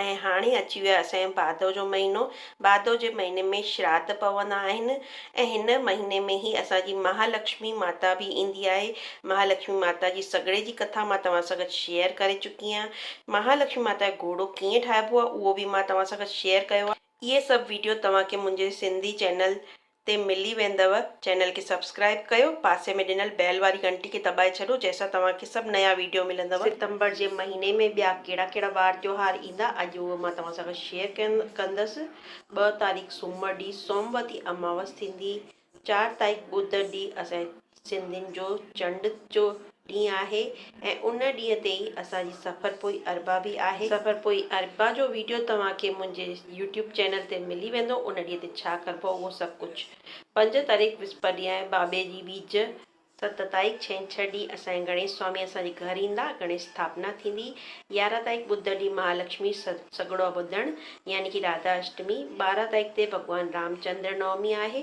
۽ هاڻي اچي ويو آهي اسانجو ڀادو جو مهينو. ڀادو جي مهيني ۾ شراڌ پوندا آهن ۽ هن مهيني ۾ ئي اسان جي مهالڪشمي ماتا به ايندي آهي. مهالڪشمي ماتا جي سڳڙي جي ڪٿا مان توهان سان گڏ شيئر ڪري چڪي آهيان. مهالڪشمي ماتا جو گهوڙو ڪيئن ٺاهبو آهي اهو به مان توهان سان گڏ شيئر ڪيو آهي. اهي سڀ ويڊيو توهان کي منهنجي سنڌي چينل تي ملي ويندؤ چينل کي سبسڪرائب ڪيو پاسي ۾ ڏنل بيل واري گهنٽي کي دٻائي ڇڏو جنهن سان توهان کي سڀ نيا ويڊيو ملندؤ. ستمبر جي مهيني ۾ ٻيا ڪهڙا ڪهڙا وار تيوهار ايندا اڄ اهي مان توهان سان گڏ شيئر ڪندس ٻه تاريخ سومر ڏينهن سوموتي اماوس ٿيندي چار تاريخ ٻڌ ڏينهن اسان جي سنڌين جو چنڊ جو ڏينهن آهي ۽ ان ڏينهن تي ئي اسان جي سفر پوئي اربع به آهي. سفر پوئي اربع جو ويڊيو توهان کي منهنجي يوٽيوب چينل تي ملي ويندو. ان ڏينهن تي ڇا ڪربو آهي اهو سڀ ڪجهه. پنج تاريخ وسپت ڏينهن آهي بابي جي ٻيج. ست تاريخ ڇنڇر ڏينهن اسان جا گڻيش سوامي اسان جي گهر ايندا. گڻيش اسٿاپنا ٿيندي. يارهن تاريخ ٻڌ ڏينهن مهالڪشمي سڳڙو ٻڌڻ يعني ڪي راڌا اشٽمي. ٻارهن تاريخ تي ڀڳوان رام چندر نومي آهي.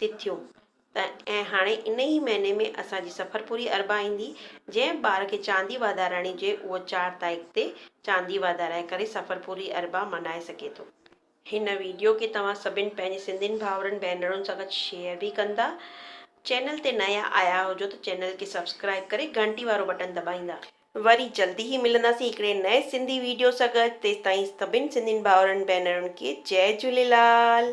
تٿيون ۽ هاڻي انهي ئي مهيني ۾ اسان جي سفر پوري اربع ايندي، جنهن ٻار کي چاندي واڌارائڻي جي اهو چار تائق تي چاندي واڌارائي ڪري سفر پوري اربع ملهائي سگهي ٿو. هن ويڊيو کي توهان سڀن پنهنجي سنڌين ڀائرن ڀينرن سان گڏ شيئر به ڪندا. چينل تي نيا آيا هجو ته چينل کي سبسڪرائيب ڪري گهنٽي وارو بٽن دٻائيندا. وري جلدي ئي ملنداسين هڪڙي نئين سنڌي ويڊيو سان گڏ تيستائين سڀن سنڌين ڀائرن ڀينرن کي جئي جهوليلال.